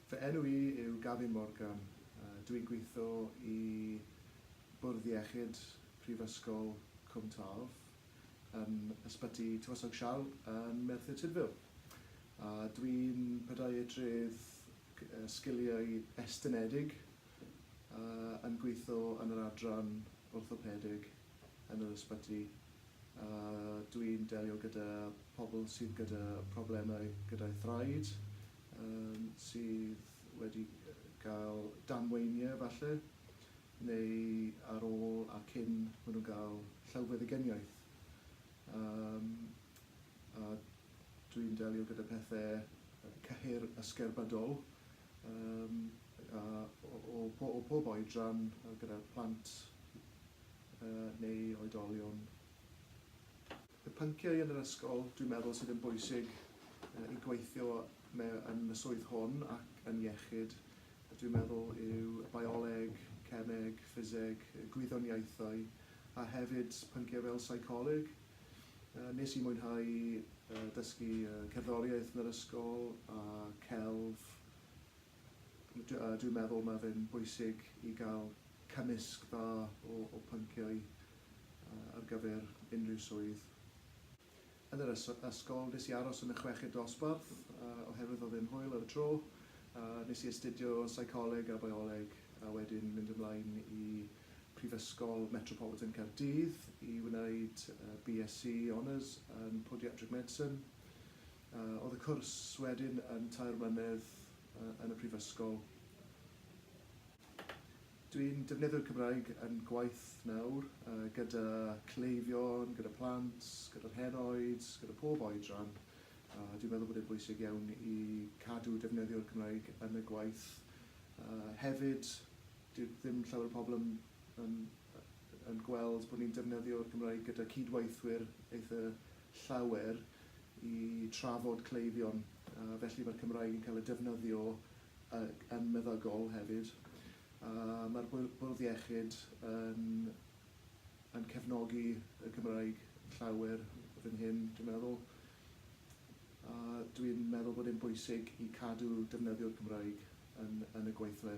Fy enw i yw Gavin Morgan, dw i'n gweithio i Bwrdd Iechyd Prifysgol Cwm Taf yn Ysbyty Tywysog Sial yn Merthyr Tudful a dw i'n pediatrydd sgiliau estynedig a yn gweitho yn yr adran orthopedig yn yr ysbyty a dwi'n delio gyda pobl sydd gyda problemau gyda'u thraed, yym sydd wedi gael damweinie falle neu ar ôl a cyn ma' nhw'n gael llawfeddygyniaeth yym a dwi'n delio gyda pethe cyhyr ysgerbydol. Yym a o o o pob oedran yy gyda'r plant yy neu oedolion. Y pynciau yn yr ysgol dwi'n meddwl sydd yn bwysig yy i gweithio me- yn y swydd hwn ac yn iechyd yy dwi'n meddwl yw y bioleg, cemeg, ffiseg, y gwyddoniaethau a hefyd pynciau fel seicoleg. Nes i mwynhau dysgu cerddoriaeth yn yr ysgol a celf. Dwi'n meddwl mae fe'n bwysig i gael cymysg dda o pynciau ar gyfer unrhyw swydd. Yn yr ysgol nes i aros yn y chweched dosbarth oherwydd oedd e'n hwyl ar y tro. Nes i astudio seicoleg a bioleg a wedyn mynd ymlaen i Prifysgol Metropolitan Caerdydd i wneud BSc Honours yn Podiatric Medicine. Oedd y cwrs wedyn yn tair mlynedd yn y Prifysgol. Dwi'n defnyddio'r Cymraeg yn gwaith nawr, gyda cleifion, gyda plant, gyda'r henoed, gyda pob oedran, a dwi'n meddwl bod e'n bwysig iawn i cadw defnyddio'r Cymraeg yn y gwaith hefyd. Dyw ddim llawer o pobl yn yn yn gweld bod ni'n defnyddio'r Gymraeg gyda cydweithwyr eitha llawer i trafod cleifion, a felly mae'r Cymraeg yn cael ei defnyddio yn meddygol hefyd. A mae'r Bwrdd Iechyd yn yn cefnogi y Gymraeg llawer fan hyn, dwi'n meddwl. A dwi'n meddwl bod e'n bwysig i cadw defnyddio'r Gymraeg yn yn y gweithle.